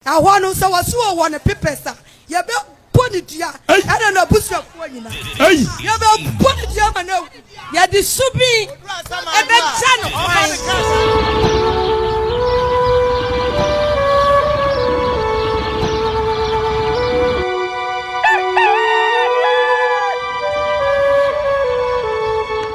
Ɛhɔ no, sɛ wɔse wɔ wɔ no pepɛs a, yɛbɛbɔ no dua, ɛna n'abusuafoɔ nyinaa. Yɛbɛbɔ no dua ma no awu. Yɛde su bi bɛkyɛ no kwan.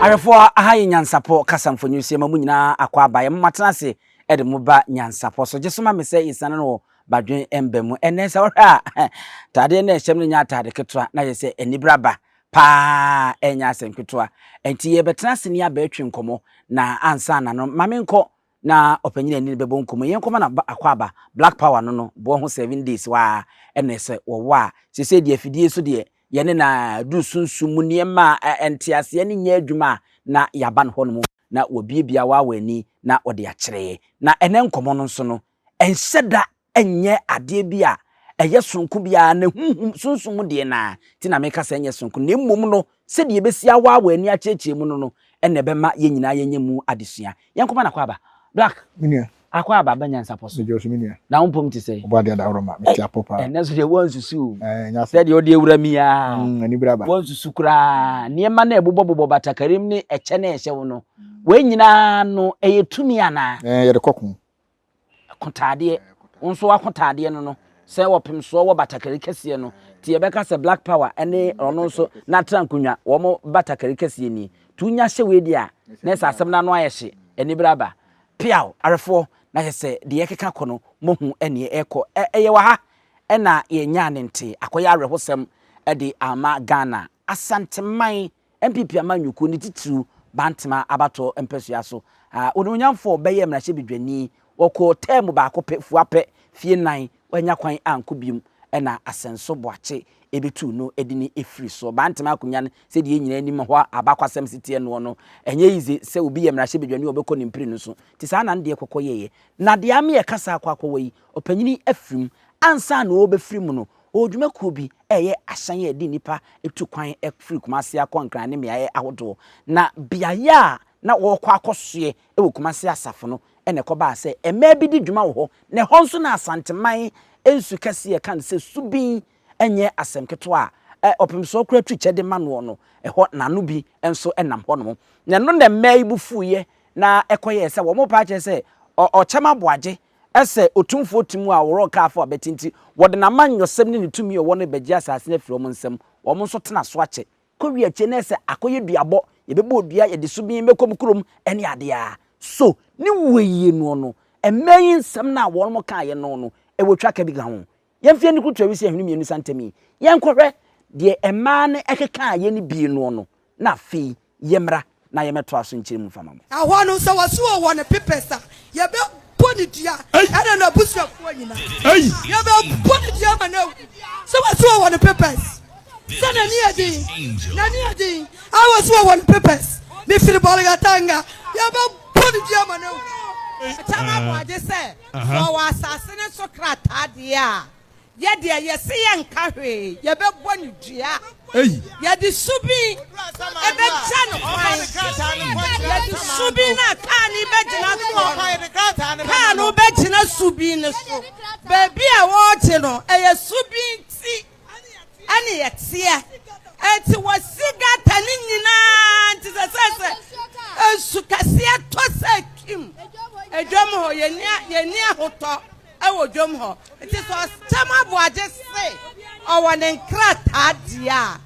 Awɛfoɔ, aha yɛ Nyansapɔ kasa mfonini so. Yɛma mo nyinaa akɔ aba. Yɛma moatena ase de mo ba nyansapɔ so. Gye so ma me sɛ yɛsiane no wɔ badwen mba mu. Ɛnnɛ sɛ wohwɛ a, ataadeɛ no a ɛhyɛm no nyɛ ataade ketewa na yɛ sɛ anibra ba paa ɛnyɛ asɛm ketewa. Ɛnti yɛbɛtena ase ne aba atwi nkɔmmɔ na ansa na no ma me nkɔ na ɔpanyin a ɛne no bɛbɔ nkɔmmɔ yi yɛn kɔma no aba akwaaba black power no no boɔ ho seven days waa ɛna ɛsɛ wɔwɔ a sese deɛ afidie so deɛ yɛne na duru sunsum mu nneɛma a ɛnteaseɛ ne nyɛ adwuma a na yɛaba no hɔ no mu. na wabuebue awaawa ani na ɔde akyerɛ yɛn. Na ɛnnɛ nkɔmmɔ no nso no, ɛnhyɛ da nyɛ adeɛ bi a ɛyɛ sononko biara, na honhom, sunsum mu deɛ no ara nti na meka sɛ ɛnyɛ sononko, na mmom no, sɛdeɛ yɛbɛsi awaawa ani akyerɛkyerɛ mu no no na ɛbɛma yɛn nyinaa yɛanya mu adesua. Yɛnkɔma no akwaaba. Black. Me nua, Akɔ aba bɛ nyansapɔ so. Na wo mpom te sɛn? Ei, ɛnnɛ nso deɛ woansusu o. Sɛ deɛ ɔde awura mi ara. Woansusu koraa. Nneɛma no a ɛbobɔbobɔ batakarim ne ɛkyɛ no a ɛhyɛ wo no, wei nyinaa no, ɛyɛ tumi anaa? Yɛde kɔ ko. Akotaadeɛ. Wo nso w'akotaadeɛ no no, sɛ ɔpemsoɔ wɔ batakari kɛseɛ no, nti yɛbɛka sɛ Black Power ne ɔno nso n'atra nkonnwa, wɔn batakari kɛseɛ nie. Nti wonya hyɛ wei deɛ a, na ɛsɛ asɛm no ano ayɛ hye. Anibere aba. Peaw arefoɔ na hwɛ sɛ deɛ ɛkeka kɔ no mohu neɛ ɛrekɔ ɛyɛ wɔ ha ɛna yɛnyaa ne nte akɔyɛ awerɛhosɛm de ama Ghana. Asanteman NPP amanyɔkuo ne titiriw Bantama abatoɔ mpɛsua so Onimuonyamfoɔ bɛyɛɛ mmarahyɛbedwani ɔkɔɔ tɛɛmu baako pɛ fua pɛ fie nan Wannya kwan ankɔ biom na asɛnso boakye betuu no de no firii soɔ. Bantama akonya no, sɛdeɛ yɛn nyinaa nim hɔ abakɔasɛm se teɛ noɔ no, ɛnyɛ easy sɛ obi yɛ mmarahyɛbadwani a ɔbɛkɔ ne mpire no so. Nti saa na ne deɛ kɔkɔ yɛeɛ. Na deɛ ama yɛka saa kɔ akɔwa yi, ɔpanyini afiri mu. Ansa na ɔrebɛfiri mu no, ɔwɔ dwumakuo bi reyɛ ahyɛn a ɛde nnipa tu kwan firi Kumase akɔ Nkran ne mmeaeɛ ahodoɔ. Na beaeɛ a na ɔrekɔ akɔsoɛ wɔ Kumasi Asafo no na ɛkɔbaa sɛ mmaa bi di dwuma wɔ hɔ na ɛhɔ nso na Asanteman nsu kɛseɛ a yɛka no sɛ Subin nyɛ asɛm ketewa a ɔpem soɔ koraa twi kyɛ de ma noɔ no, ɛhɔ na ano bi nso nam hɔnom. Na ɛno na mmaa yi bo fuiɛ na ɛkɔyɛɛ sɛ wɔn repɛ akyerɛ sɛ Ɔkyɛm Aboagye sɛ otumfoɔ te mu a ɔworɔ Nkaafo abati nti wɔde n'amanyɔsɛm ne ne tumi a ɔwɔ no rebɛgye asase no afiri wɔn nsam, wɔn nso tena so akyɛ. Kɔwie akyire no ɛsɛ akɔyɛ duabɔ, yɛbɛbɔ dua, yɛde so bin bɛkɔ mu kurom ne adeɛ a. So ne wueyie noɔ no, mmaa yi nsɛm no a wɔnom kaeɛ no no, ɛwɔ twa ka bi ka ho? Yɛmfa yɛn ani kurutu awisi ahwene mmienu sa ntam yi, yɛnkɔhwɛ deɛ mmaa no ɛkekaeɛ no bi noɔ no, na afei yɛmmra. na yɛmɛtoa so nkyerɛ mu mfa ma mo. Ɛhɔ no, sɛ wɔse ɔwɔ ne pepɛs a, yɛbɛbɔ ne dua, ɛne n'abusuafoɔ nyinaa. Yɛbɛbɔ ne dua ama no awu. Sɛ wɔse ɔwɔ ne pepɛs, sɛ n'ani yɛ den, n'ani yɛ den, a wɔse ɔwɔ ne pepɛs, mefiri Bolgatanga, yɛbɛbɔ ne dua ama no awu. Akyɛ no aboa gye sɛ sɛ ɔwɔ asase no so krataa deɛ a. Yɛ deɛ yɛse yɛnka hwee, yɛbɛbɔ no dua. Yɛde subin bɛgya no kwan. Yɛde subin no a kaa no bɛgyina soɔ no, kaa no bɛgyina subin no so. Baabi a wɔregye no, ɛyɛ subin ti ɛne yɛteɛ. Ɛnti wɔsi gata no nyinaa nti sɛ sɛ sɛ nsu kɛseɛ tɔ sɛ kim edwam hɔ, yɛnni ahotɔ. wɔ dwom hɔ. Nti sɛ Ɔsɛm Aboagye se ɔwɔ ne nkrataa deɛ a,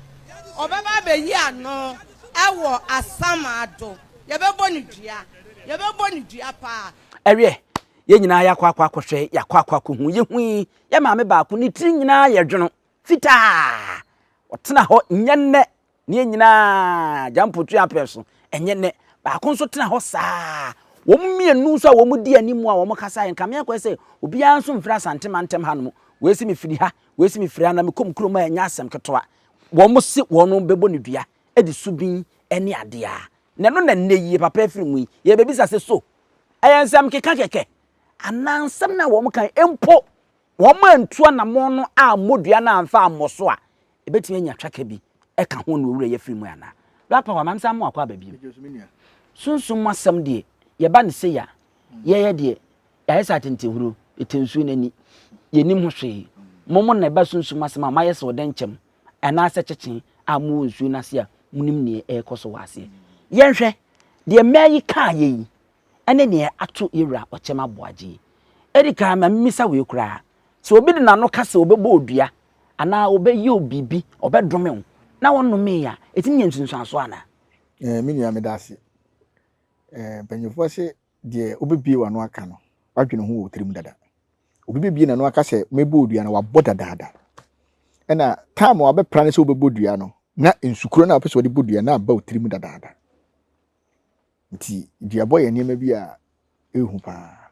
ɔbɛba abɛyi ano wɔ Asamado. Yɛbɛbɔ no dua. Yɛbɛbɔ no dua paa. Ɛwiɛ, yɛn nyinaa yɛakɔ akɔ akɔhwɛ, yɛakɔ akɔ akɔhu. Yɛhui yɛn maame baako, ne tiri nyinaa yɛ dwono, fitaa. Ɔtena hɔ nyɛ nnɛ Ne yɛn nyinaa, Gyampo tu yɛn so. Ɛnyɛ nnɛ. Baako nso tena hɔ saa. Wɔn mmienu nso a wɔn di anim a wɔn kasa yɛ nkame akɔyɛ sɛ obiara nso mfiri asante mantam ha nom. Wei si mefiri ha, wei si mefiri ha na mekɔm kurom a ɛnyɛ asɛm ketewa. Wɔn se wɔn bɛbɔ ne dua de so bin ne adeɛ a. Na ɛno na nnɛ yi yɛ papa afiri mu yi. Yɛrebɛbisa sɛ so ɛyɛ nsɛm keka kɛkɛ anaa nsɛm no a wɔn kan mpo wɔantu anammɔn no ammɔ dua no amfa ammɔ so a, ebetumi anya twaka bi ka ho na owura yi afiri mu anaa? Rapa hɔ a, ma mensan mmoa kɔ aba bio. Sunsum mu asɛm deɛ, yɛba no sei a, yɛyɛ deɛ, yɛayɛ sɛ atentehuro, yɛte nsuo no ani. Yɛnnim ho hwee. Mommɔ na ɛba sunsum mu asɛm a, moayɛ sɛ ɔdɛn kyɛm anaasɛ kyekye a mowɔ nsuo no ase a monim deɛ ɛrekɔ so wɔ aseɛ. Yɛnhwɛ deɛ mmɛ yi kaeɛ yi. ɛne nea ato yewura ɔkyɛm aboagye yi. Edikan ma mimmisa wei koraa, sɛ obi de n'ano ka sɛ ɔbɛbɔ wo dua anaa ɔbɛyɛ wo biribi, ɔbɛdome wo, na wɔnnomee a, ɛtumi nya nsunsuansoɔ anaa? Ɛɛ, me nua, meda ase. Ɛɛ, mpanyimfoɔ se deɛ wobɛbue w'ano aka no, woadwene ho wɔ wo tirim dada. Obi bɛbue n'ano aka sɛ mɛbɔ wo dua no, wabɔ dadaada. Ɛna time a wabɛpra no sɛ wobɛbɔ dua no, na nsukorɔ no a wopɛ sɛ wɔde bɔ dua no aba wo tirim dadaada. nti duabɔ yɛ nneɛma bi a ɛhu paa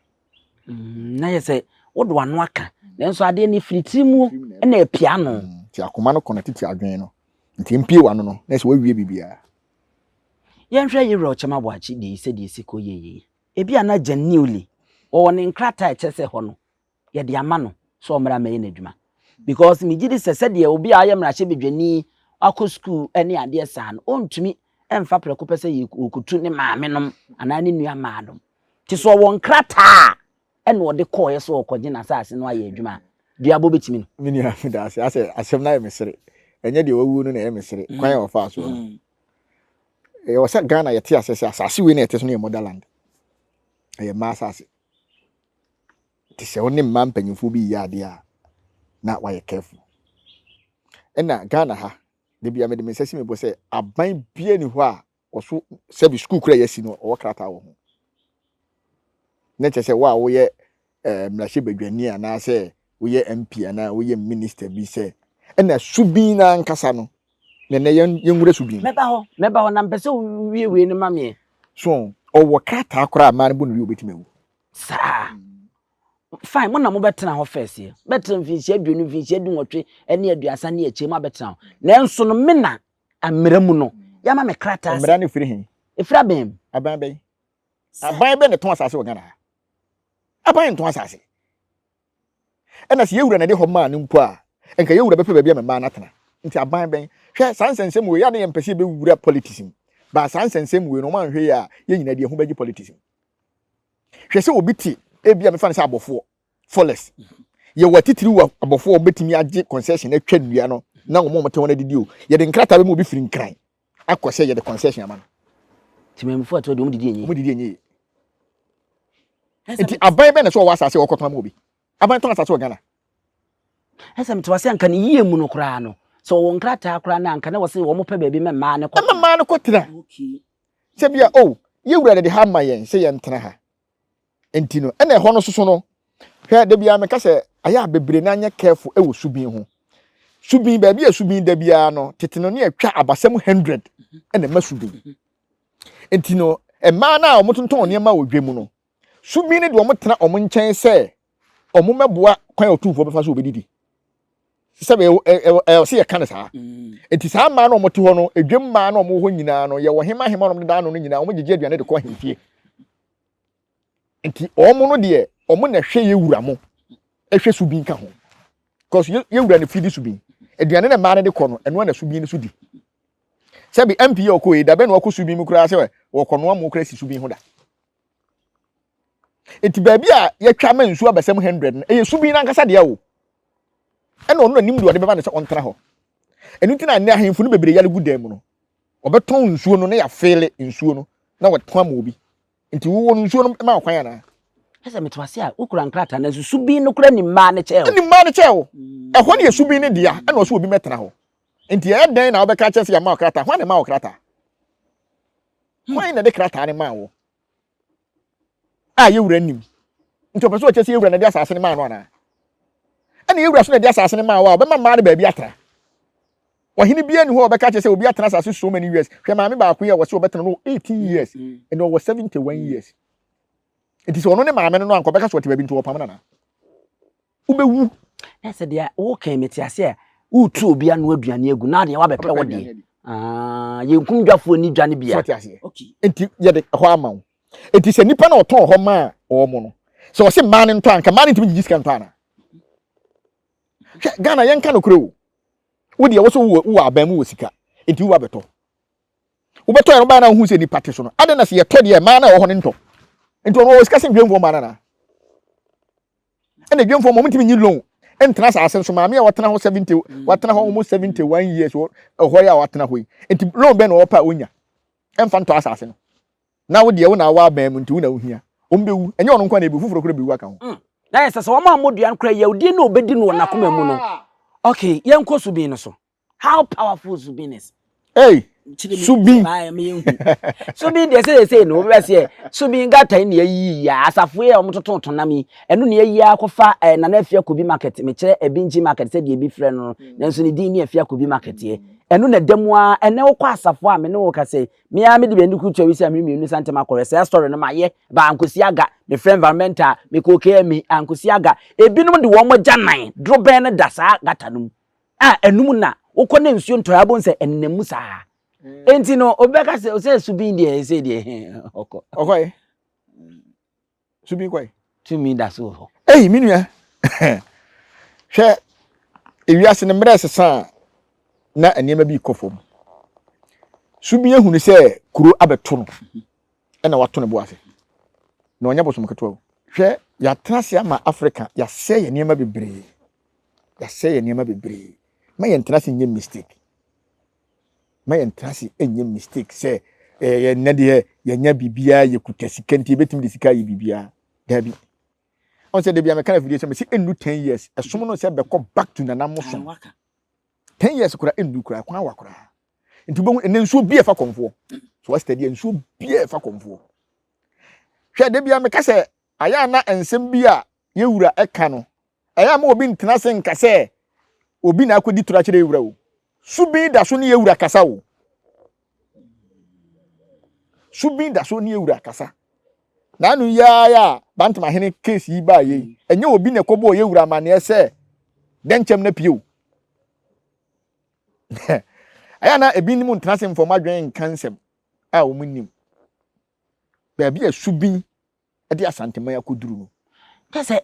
mm, na yɛ sɛ wode wano aka nanso adeɛ no firi tiri mu na apia no mm, nti akoma no kɔna tete adwene no nti mpie wano no na ɛsɛ wawie biribiaa yɛnhwɛ yerɛ ɔkyɛm aboakye deɛ sɛdeɛ ɛsi kɔ yɛyie ebi a na gya newly wɔwɔ ne nkrataa ɛkyɛ sɛ hɔ no yɛde ama no sɛ ɔmmra mmɛyɛ n'adwuma because megye di sɛ sɛdeɛ obi a ɔyɛ mmarahyɛbadwani akɔ sukuu ne adeɛ saa no ɔntumi mfa prɛko pɛ sɛ yɛkɔtu ne maame nom anaa ne nua maa nom nti sɛ ɔwɔ nkrataa ɛna ɔde kɔɔeɛ sɛ ɔkɔgye no asase no ayɛ adwuma a duabɔ bɛtumi no me nua meda ase asɛ asɛm no ayɛ me sere ɛnyɛ deɛ wawuo no na ɛyɛ me sere mm. kwan a wɔfaa soɔ no mm. ɛwɔ sɛ ghana yɛte asɛ sɛ asase wei na yɛte so no yɛ motherland ɛyɛ mmaa asase te sɛ wo ne mmaa mpanyinfoɔ bi yɛ adeɛ a na wayɛ careful ɛna ghana ha de bia mede me nsa si me bɔ sɛ aban bia ni hɔ a ɔso sɛbi sukuu kura yɛasi no ɔwɔ krataa wɔ ho na kyerɛ sɛ wo a woyɛ eh, mmarahyɛ badwani anaasɛ woyɛ mp anaa woyɛ minister bi sɛ ɛna subin no ankasa no na ɛnɛ yɛnwura subin mɛba hɔ mɛba hɔ na mpɛ sɛ wiewie no ma meɛ so ɔwɔ krataa koraa maa no bo no wie wobɛtumi awu saa. Fine, mo na mobɛtena hɔ first yɛ. Bɛtena mfinhyia aduonu, mfinhyia dunwɔtwe ne aduasa ne akyire ma bɛtena hɔ. Nanso no me na mmara mu no yɛama me krataa sɛ. Mmara no firi he? Ɛfiri aban mu. Aban bɛn? Aban bɛn na ɛtɔn asase wɔ Ghana ha? Aban ntɔn asase. Ɛna sɛ yɛn wura na ɛde hɔ maa no mpo a, nka yɛn wura bɛpɛ baabi a mmaa no atena. Nti aban bɛn? Hwɛ saa nsɛnsɛm wei, yɛ a na yɛmpɛ sɛ yɛbɛwura politics mu, but saa nsɛnsɛm wei no, wɔn anhwɛ yie a, yɛn nyinaa de yɛn ho bɛgye politics mu. Hwɛ sɛ obi te, ebi a mefa no sɛ abɔfoɔ, forest, yɛwɔ atitiriw a abɔfoɔ a wɔbɛtumi agye concession atwa nnua no na wɔn a wɔte hɔ no adidi o, yɛde nkrataa bɛma obi firi Nkran, akɔ sɛ yɛde concession ama no nti mmemfo ɛtoɔ deɛ wɔn didi enye wɔn didi enye nti aban bɛn na sɛ ɔwɔ asase a ɔkɔtɔn ama obi aban tɔn asase wɔ ghana ɛsɛ mete wase anka ne yie mu no koraa no sɛ ɔwɔ nkrataa koraa no anka na wɔse wɔn pɛ baabi ma mmaa no kɔ mmaa no kɔtena sɛ bia o oh, yɛwura de ha ma yɛn sɛ yɛntena ha nti no ɛna ɛhɔ no soso no hwɛ da biara meka sɛ ayɛ a bebree na anyɛ careful ɛwɔ subin ho subin baabi a subin da biara no tete no ne atwa abasɛm 100 ɛna ɛma subin nti no mmaa no a wɔtontɔn nneɛma wɔ dwa mu no subin no de wɔn tena wɔn nkyɛn sɛ wɔmmɛboa kwan a ɔtumfoɔ bɛfa so wɔbɛdidi sɛ ɛwɔ sɛ yɛka no saa mm. nti saa mmaa no wɔte hɔ no edwam mmaa no wɔwɔ hɔ nyinaa no yɛwɔ hema hema nom dedaa no no nyinaa wɔgyegye aduane de kɔ ahemfie nti wɔn no deɛ wɔn na ɛhwɛ yɛ wura mo ɛhwɛ so bi nka ho because yɛ wura no fi di so bi aduane na mmaa no de kɔ no ɛno na so bi no so di sɛbi mp yɛ ɔkɔ yi dabɛ na ɔkɔ so bi mu koraa sɛ wɔkɔ noa mu koraa si so bi ho da Enti baabi a yɛatwa ama nsu abɛsɛm hundred no, ɛyɛ subun no ankasa dea o. Ɛna ɔno na nim deɛ ɔde bɛma no sɛ ɔntena hɔ. Ɛno nti na ɛnɛ ahemfo no bebree yare gu dan mu no. Wɔbɛtɔn nsuo no na yɛafeele nsuo no na wɔatɔn ama obi. Nti wowɔ no nsuo no ma ɔkwan anaa? Ɛsɛ mete wase a wokura nkrataa no nso subin no kora nim maa no kyɛɛ wo. Nim maa no kyɛɛ wo. Ɛhɔ no yɛ subin no dea ɛna ɔsɛ obi mɛtena hɔ. Nti ɛyɛ dɛn na wobɛka kyerɛ sɛ yɛama wo krataa? Hwan na ɛma wo krataa? Hwan na ɛde krataa no maa wo? A yɛwura nnim. Nti ɔpɛ sɛ ɔkyɛ sɛ yɛwura na ɛde asase no maa no anaa? Ɛna yɛwura so na ɛde asase no maa wo a, ɔbɛma mmaa no baabi atra. Ɔhene biara ni hɔ a ɔbɛka kyerɛ sɛ obi atena asase so many years. Hwɛ maame baako yi a wɔse ɔbɛtena no 18 years, ɛna ɔwɔ 71 years. Nti sɛ ɔno ne maame no no anka ɔbɛka sɛ ɔte baabi nti wɔpam no anaa? wobɛwu na sɛ deɛ wokan mete ase a woretu obi ano aduane agu na adeɛ wabɛpɛ wo deɛ ah, yɛnkum dwafoɔ ni dwa no bia nti yɛde ɛhɔ ama wo nti sɛ nnipa na ɔtɔn hɔ maa ɔɔ mo no sɛ ɔse mmaa no ntɔ anka mmaa no ntumi gyegye sika ntɔ ana hwɛ ghana yɛnka nokorɛ o wodeɛ wo so wowɔ aban mu wɔ sika nti wowa bɛtɔ wobɛtɔ yɛ no wobaa na wohu sɛ nnipa te so no adɛn na sɛ yɛtɔ deɛ mmaa na ɛwɔ hɔ no ntɔ nti ɔno ɔwɔ sika sɛ ndwamfoɔ mmaa no anaa ɛna dwemfoɔ ma wɔn ntumi nyi loan ntena asase no so maame a watena hɔ seventy mm. watena hɔ almost seventy one years wɔ ɛhɔ a watena hɔ yi nti loan bɛn na ɔpɛ a onya ɛnfa ntɔ asase no na wo deɛ wo na awa abɛn mu nti wo na ohia wɔn bɛ wu ɛnyɛ ɔno nkwa na ebi foforɔ kura bɛ wu aka ho. Mm. na yɛ sɛ sɛ wɔn a wɔn dua no kura yɛ odie na obedi no wɔ n'akoma mu no ah. okay yɛn nkɔ so bin no so. How powerful Zubin is. Hey, Zubin. Zubin deɛ sɛ sɛ no wobɛ sɛ Zubin gata ne ayi ya asafo yɛ wɔn toto to nam yi ɛno ne ayi akɔfa eh, nana afia kobi market mekyerɛ ebinji eh, market sɛ deɛ ebi frɛ no nanso ne din ne afia kobi market yɛ ɛno na da mu a ɛnɛ wokɔ asafo a me ne wo ka sɛ me ara mede bɛndi kutu awi sɛ me mmienu sɛ ntɛm akɔrɛ sɛ asɔre no mayɛ ba ankosi aga me frɛ environmental me kɔ kmi ankosi aga ebinom de wɔn agya nan dorobɛn no da saa gata no mu a ɛnum na wokɔ na nsuo ntɔe abom sɛ ɛnenam mu saa nti no obɛka sɛ sɛ subin deɛ ɛsɛ deɛ ɔkɔ ɔkɔe subin kɔe tumi da so wɔ hɔ ei me nua hwɛ ewiase no mmerɛ sesa na nneɛma bi kɔ fam subin ahunu sɛ kuro abɛto no ɛna wato ne bo ase na ɔnyɛ bosom ketewa hwɛ yɛatena ase ama afrika yɛasɛ yɛ nneɛma bebree yɛasɛ yɛ nneɛma bebree ma yɛntena ase nyɛ mistake ma yɛntena ase nyɛ mistake sɛ eh, yɛ nnɛ deɛ yɛnya biribiara yɛkuta sika nti yɛbɛtumi de sika ayɛ biribiara daabi ɔn sɛ dabi amɛka na afidie sɛ mɛsi ɛnnu 10 years ɛsom no sɛ bɛkɔ back to nana mo som 10 years kora ɛnnu kora kwan wa kora nti wobɛhu ɛnɛ nsuo bi ɛfa kɔmfoɔ so wasita deɛ nsuo bi ɛfa kɔmfoɔ hwɛ dabi amɛka sɛ ayɛ ana nsɛm bi a yɛwura ɛka no Ɛyɛ a ma obi ntena ase nka sɛ obi na akodi toro akyerɛ ewura o. Subin da so ne ewura kasa o. Subin da so ne ewura kasa. Na ano yi ara a Bantamahene case yi baa yei, ɛnyɛ obi na ɛkɔbɔɔ yɛwura amanneɛ sɛ dɛn kyɛm no apue o. Ɛyɛ a na ebinom ntena ase mfa wɔn adwene nka nsɛm a wɔn nnim. Baabi a subin de Asanteman akoduru no. Kyɛ sɛ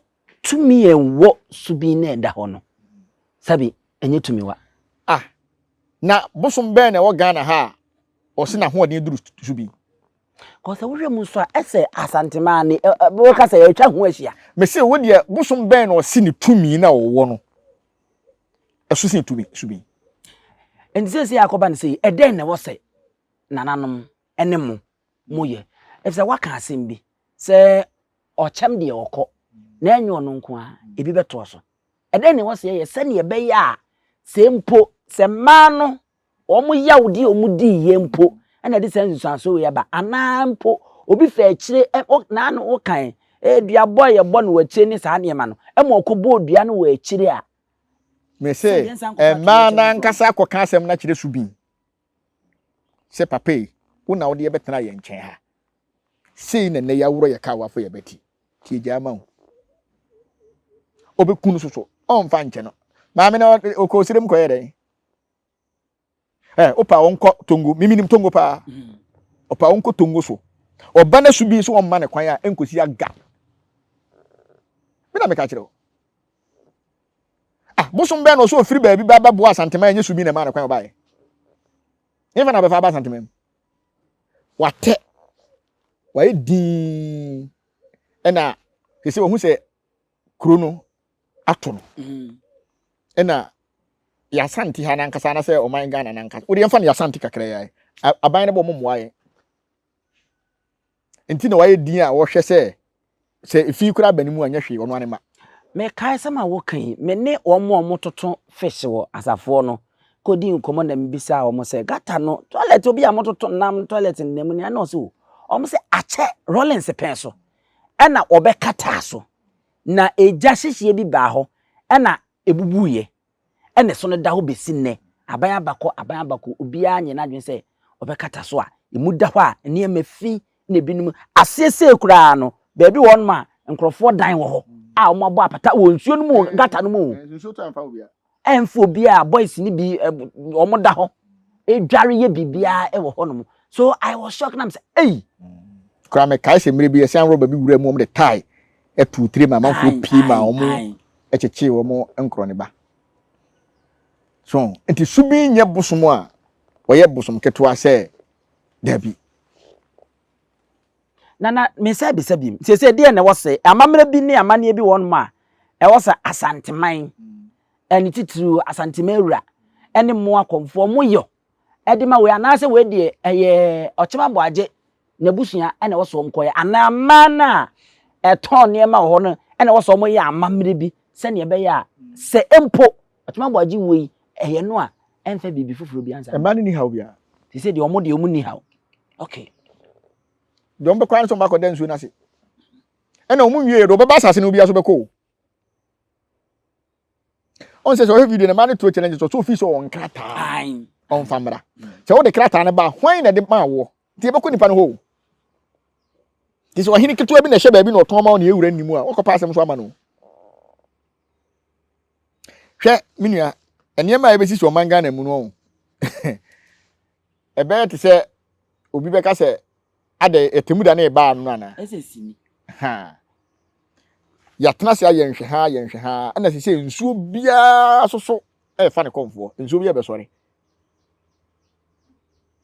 tumi a ɛwɔ so bi na ɛda hɔ no, sɛbe ɛnyɛ tumiwa. Ah, na bosom bɛn na ɛwɔ Ghana ha a wɔse n'ahoɔden duru so bi? Kɔ sɛ wohwɛ mu nso a, ɛsɛ Asanteman ne wɔka sɛ ɛtwa ho ahyia. Mese wo deɛ bosom bɛn na ɔse ne tumi na ɔwɔ no ɛso sen tumi so bi? Nti sɛ sɛ akɔba no sɛ ɛdɛn na ɛwɔ sɛ nananom ne mo mo yɛ. Efisɛ waka asɛm bi sɛ ɔkyɛm deɛ ɔkɔ na ɛnyɛ ɔno nko a ebi bɛtoa so. Ɛdɛn na ɛwɔ sɛ yɛyɛ sɛnea ɛbɛyɛ a sɛ mpo sɛ mmaa no wɔn yawdi a wɔn dii yɛ mpo ɛna ɛde saa nsusuansoɔ wei aba anaa mpo obi fɛ akyire ɛ o naa no wokan dua bɔ a yɛbɔ no wɔ akyire ne saa nneɛma no ɛma ɔkɔ bɔ dua no wɔ akyire a. Mese mmaa no ankasa akɔka asɛm no akyerɛ Subin. sɛ, Papa ei, wo na wode yɛ bɛtenaa yɛn nkyɛn ha. Sei na nnɛ yɛaworɔ yɛ ka a woafɔ yɛ bɛte. Nti agya ama wo. Ɔbɛku no soso. Ɔmfa nkyɛ no. Maame na ɔkɔ ɔsirem kɔyɛ dɛn? Eh, opa ɔnkɔ Tongo. Mimi nim Tongo paa. Ɔpa mm-hmm. ɔnkɔ Tongo so. Ɔba no so bi so ɔmma ne kwan a ɛnkɔsi aga. Me na meka kyerɛ wo. Ah, bosom bɛn na ɔsɛ ofiri baabi ba bɛboa Asanteman ɛnyɛ Subi na ɛmaa no kwan ɔbaeɛ. Yɛmfa na ɔbɛfa aba Asanteman mu. Watɛ, wayɛ dinn ɛna te sɛ wahu sɛ kuro no ato no mm. ɛna yɛasante ha nankasa anasɛ ɔman Ghana nankasa wode yɛmfa no yɛasante kakra yɛ aban no bɔ mo mmoa yɛn Nti na wayɛ din a wɔhwɛ sɛ sɛ fi koraa ba ne mu a nyɛ hwee, ɔno ara ne ma. Mekae sɛm a woka yi, me ne wɔn a wɔtoto fish wɔ asafo hɔ no kodii nkɔmmɔ na mibisaa wɔn sɛ, Gata no toilet, obi a mototo nam toilet no nam nea na ɔsɛ o. Wɔn sɛ, Akyɛ, Rawlings pɛn so. Ɛna wɔbɛkataa so, na egya hyehyeɛ bi baa hɔ, ɛna ebubuiɛ. ɛna ɛso no da hɔ bɛsi nnɛ, aban abakɔ, aban abakɔ, obiara nyɛ n'adwene sɛ ɔbɛkata so a, ɛmu da hɔ a nneɛma fi na ebinom aseɛ sei koraa no, baabi wɔ hɔnom a nkurɔfoɔ dan wɔ hɔ a wɔn abɔ apata wɔ nsuo no mu o, gata no mu o. Nsuo tɔ amfa obiara. Ɛmfa obiara, boys no bi wɔn da hɔ, ɛdware yɛ biribiara wɔ hɔnom. So I was shocked na mesɛ ei. Koraa mekae sɛ mmerɛ bi yɛsan rɔba bi wura mu wɔn de tae tuu tire ma amanfoɔ pii ma wɔn kyekyee wɔn nkorɔ ne ba so nti su bi nyɛ bosom a wɔyɛ bosom ketewa sɛ dabi na na mensa bisa bi sɛ sɛ deɛ na ɛwɔ sɛ amammerɛ bi ne amanneɛ bi wɔn mu a ɛwɔ sɛ asanteman ɛne titiriw asanteman wura ɛne mmoa kɔmfoɔ mo yɔ de ma wei anaasɛ wei deɛ ɛyɛ ɔkyema boagye n'abusua na ɛwɔ sɛ wɔn kɔyɛ anaa mmaa no a ɛtɔn nneɛma wɔ hɔ no na ɛwɔ sɛ wɔn yɛ amammerɛ bi sɛnea ɛbɛyɛ a sɛ mpo ɔkyema boagye wuo yi ɛyɛ no a ɛmfa biribi foforɔ bi ansa. Mmaa no ni haw biara. Te sɛ deɛ wɔn deɛ wɔn ni haw. Okay. Deɛ wɔn bɛkɔ ara ne sɛ wɔn akɔda nsuo no ase. Ɛna wɔn nwie yɛ deɛ wɔbɛba asase no obiara so bɛkɔ o. ɔn sɛ sɛ ɔhwɛ video no ma no to challenge so so fi so ɔn krataa ɔn fa mmra sɛ wode krataa no ba hwan na de ma woɔ nti yɛbɛkɔ nipa no hɔ o nti sɛ ɔhene ketewa bi na ɛhyɛ baabi na ɔtɔn ma wo na yɛwura nni mu a wɔkɔpa asɛm so ama no hwɛ me nua nneɛma a yɛbɛsi so ɔman ghana mu no ɔn Ɛbɛyɛ te sɛ obi bɛka sɛ, adɛn, atemmuda no rebaa no no anaa? Ɛsɛ sini. Ha. Yɛatena ase ayɛ nhwɛ ha, yɛ nhwɛ ha, ɛna sɛ sɛ nsuo biara so so ɛrefa ne kɔmfoɔ, nsuo biara bɛsɔre.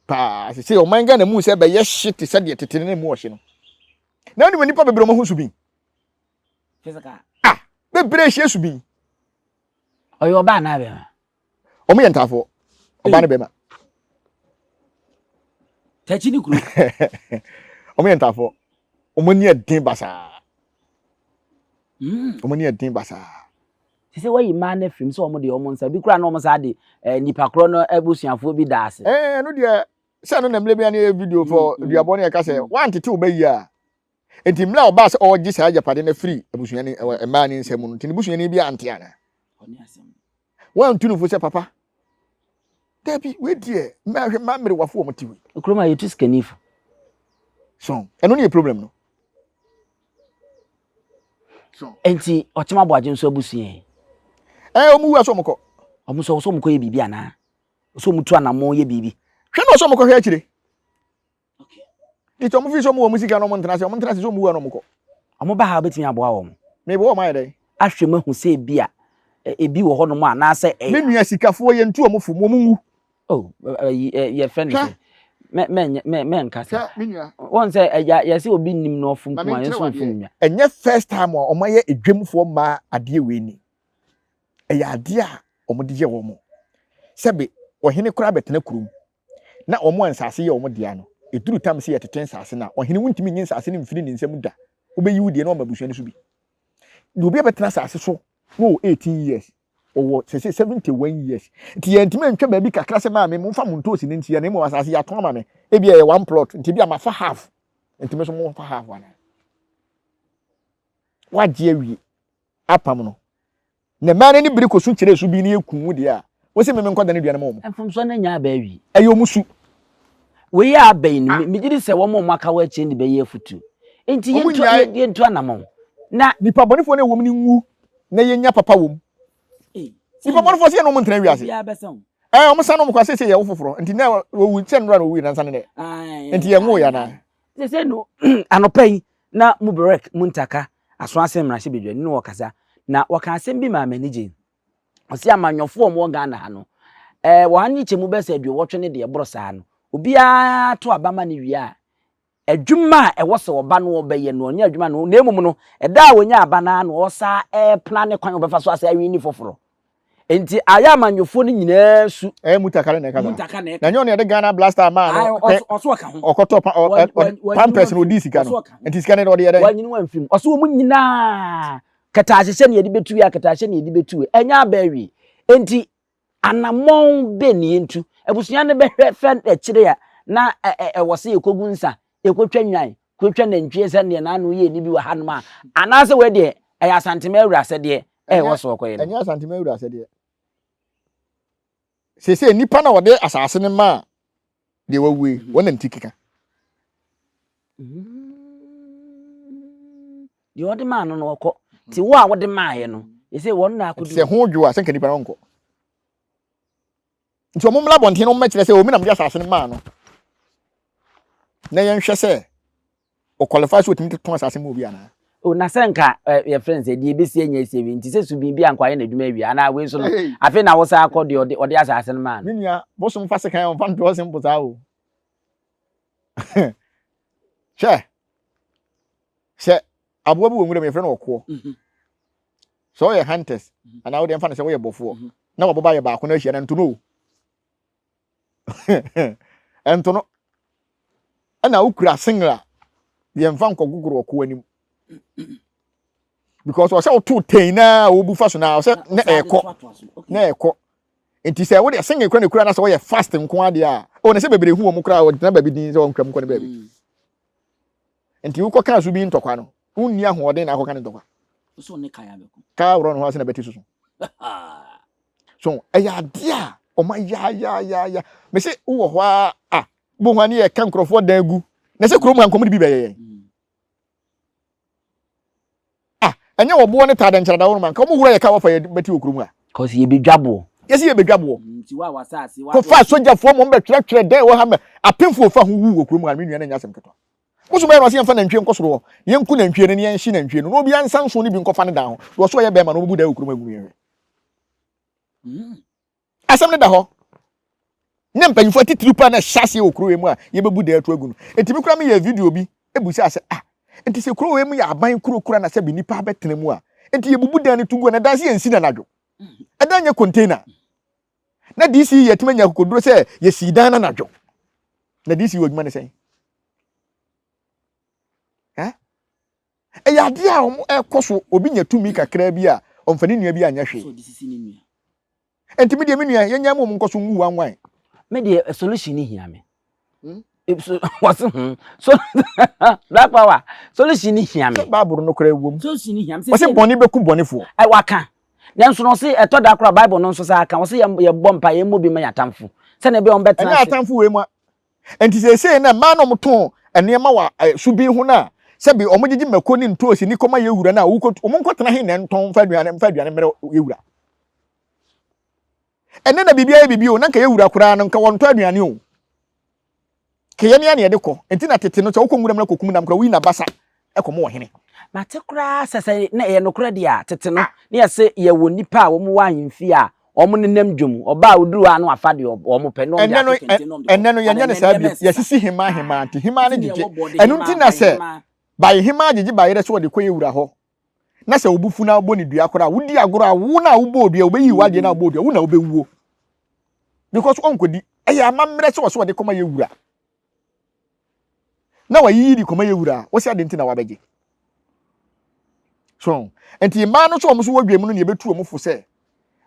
Paa, sɛ sɛ ɔman Ghana mu sɛ ɛbɛyɛ hye te sɛ deɛ tete no mu ɔhye no. Na wonim nnipa bebree wɔn ho su bi. Physical. Ah, bebree hyɛ su bi. Ɔyɛ ɔbaa anaa bɛma? wɔn yɛ ntaafoɔ ɔbaa ne bɛrima. tɛkyi ne kuro. wɔn yɛ ntaafoɔ wɔn ani ɛden basaa. wɔn ani ɛden basaa. te sɛ wɔyi mmaa no afirim sɛ wɔn de wɔn nsa bi kura na wɔn saa de ɛɛ nipa korɔ no abusuafoɔ bi da ase. ɛɛ ɛno deɛ sɛ ɛno na mmiri bi ani yɛ video fɔ duabɔ ne ɛka sɛ wɔn antete wɔn bɛyi a. Enti mmerɛ a ɔbaa sɛ ɔregye saa agyapadeɛ no afiri abusua no ɛwɔ mmaa no nsa mu no, nti ne busuani bi ante anaa? Wɔantu no fo sɛ, Papa, dabi, wei deɛ, mmaa hwɛ mmaa mmerewafo wɔn te wei. Kurom a yɛtu sikani fo. So, ɛno ne yɛ problem no. So. Enti ɔkyem aboagye nso abusua yi. Ɛɛ wɔn wu asɔ wɔn kɔ. Wɔn sɛ wɔsɔ wɔn kɔ yɛ biribi anaa? Wɔsɔ wɔn tu anamɔ yɛ biribi. Hwɛ na ɔsɔ wɔn kɔ hwɛ akyire. Nti ɔmo fi sɛ ɔmo wɔ ɔmo sika na ɔmo ntena ase, ɔmo ntena ase sɛ ɔmo wu a na ɔmo kɔ. Ɔmo ba ha betumi aboa wɔn. Mebɔ wɔn ayɛ dɛn? Ahwɛ mu ahu sɛ ebi a ebi wɔ hɔnom a anaasɛ ɛyɛ. Me nua sikafoɔ yɛn tu ɔmo fam, ɔmo nwu. Oh, ɛyi ɛ yɛ fɛ ne sɛ. Mɛ mɛ mɛ mɛ nkasa. Wɔn sɛ ɛya yɛ sɛ obi nim na ɔfum kuma yɛn so nfum nya. Ɛnyɛ first time a ɔmo ayɛ edwamfoɔ mmaa adeɛ wei ni. Ɛyɛ adeɛ a ɔmo de yɛ wɔn. Sɛbe ɔhene koraa bɛtena kurom. na wɔn a nsase yɛ wɔn dea no, eduru tam sɛ yɛtete nsase no a, ɔhene, wuntumi nnye nsase no mfiri ne nsam da. Wobeyi wo deɛ na wɔama abusua no so bi. Na obi a bɛtena asase so no wɔ 18 years, ɔwɔ sɛsɛ 71 years. Nti yɛntumi antwa baabi kakra sɛ maame momfa mo ntoosi no nsia, na mmom asase yɛatɔn ama me, ebia ɛyɛ one plot, nti ebia mafa half, nti me nso momfa half anaa? Woagye awie apam no. Na mmaa no ani bere kɔ su kyerɛ su bi no yɛ kuw deɛ a, wɔsi mmemme nkɔda no aduane ma wɔn. Mfomsoɔ no anya aba awie. Ɛyɛ wɔn su. Wei a aba yi no, megye di sɛ wɔn a wɔaka wɔ akyire no de bɛyɛ afutuo. Enti Wɔn yɛntu nnyae. yɛntu anamɔn na Nnipa bɔnefoɔ no a ɛwɔ mu no nwu na yɛnnya papa wɔ mu. Ei, sɛ Nnipa bɔnefoɔ sɛ yɛne wɔn ntena wiase. obiara bɛsa wo. Ɛɛ, wɔsan no wɔn kɔ seesei yɛwo foforɔ. Enti na wɔwu sɛ nnora na wɔwui nansa ne nnɛ. Ae, Enti yɛnwoo yɛ ae, anaa? ae. Seesei no, anɔpa yi na mo berɛk mo ntaka aso asen mmarahyɛbedwani no ɔkasa na ɔka asɛm bi maa m'ani gyei. Ɔse amanyɔfoɔ a wɔwɔ Ghana ha no, ɛɛ wɔn ano kyɛ mu bɛsɛ aduowɔtwe ne deɛ ɛboro saa no, obiara to aba ma no wie a, adwuma a ɛwɔ sɛ ɔba no ɔbɛyɛ no ɔnyɛ adwuma no, na mmom no, ɛda a ɔnya aba no ara na ɔsa ɛɛplan kwan a ɔbɛfa so asa awi ne foforɔ. Nti ayɛ amanyɔfoɔ no nyinaa su. Ɛyɛ mutaka ne na ɛkasa. Mutaka na ɛkasa. Na nyɛ ɔne ɛde Ghana blaster maa no. Ayi ɔso ɔka ho. Ɔkɔtɔ pa ɔ pampers na ɔdi sika no. Nti sika no de ɔde yɛ dɛ. Wanyini wɔn mfim. Ɔso wɔn nyinaa kɛtɛahyehyɛ na yɛde bɛtu wei a kɛtɛahyehyɛ na yɛde bɛtu wei. Ɛnyɛ aba awie. Nti anamɔn bɛn na yɛntu? Abusua no bɛhwɛ fɛ akyire a na ɛwɔ sɛ yɛkɔgu nsa yɛkɔtwa nnwan, kɔtwa nantwie sɛdeɛ n'ano yɛ ni bi wɔ hanom a, anaasɛ wei deɛ ɛyɛ Asantema awura asɛdeɛ ɛwɔ so ɔkɔyɛ no? Ɛnyɛ Asantema awura asɛdeɛ. Seesei nnipa na wɔde asase no maa deɛ wawu yi, mhm. wɔn na ne ti keka. Mhm. Deɛ wɔde maa no no ɔkɔ. Ti wo a wɔde maaeɛ no, ɛsɛ wɔn na akɔdi. Sɛ ho dwo a, sɛ nka nipa no nkɔ. nti wɔn mmra abɔnten no mmɛkyerɛ sɛ omi na mede asase no maa no na yɛnhwɛ sɛ ɔkwalifaa sɛ otumi totɔn asase ma obi anaa o na sɛ nka yɛfrɛ no sɛ deɛ ɛbɛsi anya asi awie nti sɛ subin bi ankɔ ayɛ n'adwuma awie anaa wei so no afei na wosan akɔ deɛ ɔde asase no maa no menua bosom fa sekan ɔmfa ntoɔ se mpo saa o hwɛ sɛ aboa bi wɔ nwura mu yɛfrɛ no ɔkoɔ mhm. sɛ ɔyɛ hunters mhm. anaa wode mfa no sɛ woyɛ bɔfoɔ mhm. na wɔboba yɛ baako no ahyia no ntono o ɛntono ɛna wokura singla yɛmfa nkɔgogoro ɔko anim because ɔsɛ woto ten na wobu fa so na ɔsɛ na ɛkɔ na ɛkɔ nti sɛ wode singla kura ne kura na sɛ wɔyɛ fast nko adeɛ a ɔne sɛ bebree hu wɔn koraa wɔgyina baabi din sɛ wɔntwam kɔ ne baabi mm. Nti wokɔkaa so bi ntɔkwa no, wonni ahoɔden na akɔka ne ntɔkwa. So ne kaa bɛko. Kaa worɔ no ho ase na bɛte soso. So ɛyɛ adeɛ a ɔma yaayaayaya. Me se wowɔ hɔ a a bo ho a ne yɛka nkurɔfoɔ dan gu. Na sɛ kurom ha nkɔm de bi bɛyɛ yɛn. Ah ɛnyɛ wɔ boɔ ne taa dɛ nkyɛrɛ da wɔnom a nka wɔn hura yɛ kaa wɔfa yɛ bɛti wɔ kuro mu a. Cause yɛ bɛ dwa boɔ. Yɛsi yɛ bɛ dwa boɔ. Kɔ fa sogyafoɔ mom bɛ twerɛ twerɛ dɛn wɔ ha mɛ apenfoɔ fa ho wu wɔ kuro mu a me nua na nyɛ asɛm ketewa. Mo so bɛyɛ no ɔse yɛnfa nantwie nkɔ soro hɔ na yɛnku nantwie no na yɛnhye nantwie no na obiara nsa nson no bi nkɔfa ne dan ho deɛ ɔse ɔyɛ bɛɛma na ɔbɛbu dan wɔ kuro mu agu me yɛnhwɛ. Asɛm no da hɔ. Ná mpanyimfo atitiriw paa na ɛhyɛ aseɛ wɔ kurow wei mu a yɛbɛbu dɛn ato agu no. Ɛtumi koraa meyɛɛ video bi bisaa sɛ, Ah, enti sɛ kurow wei mu yɛ aban kuro koraa na sɛbe nnipa abɛtena mu a, enti yɛbubu dan no to gu a, na dan sɛ yɛnsi no anadwo? Ɛdan nyɛ container. Na DC yɛatumi anya akokoduro sɛ yɛsii dan no anadwo. Na DC wɔ adwuma no sɛn? Ɛyɛ adeɛ a ɛkɔ so, obi nya tumi kakraa bi a, ɔmfa ne nua bi anyɛ hwee. Ɛnti me deɛ me nua, yɛnyae ma wɔn nkɔ so nwu wan wan. Me deɛ a solution no hia me. Wɔse hmm, so black power, solution no hia me. Sɛ Bible no koraa wom. Solution no hia me. Wɔse bɔne bɛku bɔnefoɔ. Ɛ waka. Nanso no ɔse ɛtɔ da koraa Bible no nso saa ka, ɔse yɛbɔ mpa, yɛmmɔ bi ma yɛn atamfo. Sɛnea ɛbɛyɛ wɔn bɛtena ase. Ɛnyɛ atamfo wei ma, Enti seesei no, mmaa no a wɔtɔn nneɛma wɔ ɛso bi ho no a, sɛbi wɔgyegye mako ne ntoosi ne kɔma yɛ wura no a, wɔkɔtu, wɔnkɔtena he na ɛntɔn mfa aduane mfa aduane mmerɛ yɛ wura. Ɛnɛ na biribiara yɛ biribi o, na nka yɛ wura koraa no, nka wɔntɔ aduane o. Kɛyɛ ne a na yɛde kɔ. Enti na tete no, sɛ wokɔ nwura mu na kɔkum nam koraa, woyi n'abasa kɔ mu wɔ hene. Na te koraa sɛ sɛ na ɛyɛ nokorɛ deɛ a, tete no, na yɛse yɛwɔ nnipa a wɔn wɔ ahemfie a wɔn nenam dwa mu, ɔbaa a ɔduru hɔ a na wafa deɛ wɔn pɛ, na wɔn de ato kente, na wɔn de kɔ. Ɛnnɛ no, yɛnyɛ no saa bio, yɛsisi hemaa ahemaa, nti hemaa no gyegye. Ɛno nti na sɛ baye hemaa gyegye ba yerɛ sɛ wɔde kɔ yɛ wura hɔ, na sɛ wo bo fu na wobɔ no dua koraa a, wodi agorɔ a, wo na wobɔɔ dua, wɔbɛyi wo adeɛ na wobɔɔ dua, wo na wobɛwuo, because ɔnkɔdi. Ɛyɛ amammerɛ sɛ wɔse wɔde kɔma yɛ wura. na wayiyi de kɔma yɛ wura a, wose ade nti na wabɛgye? So, nti mmaa no nso wɔn nso wɔ dwam no na yɛbɛtu wɔn fo sɛ,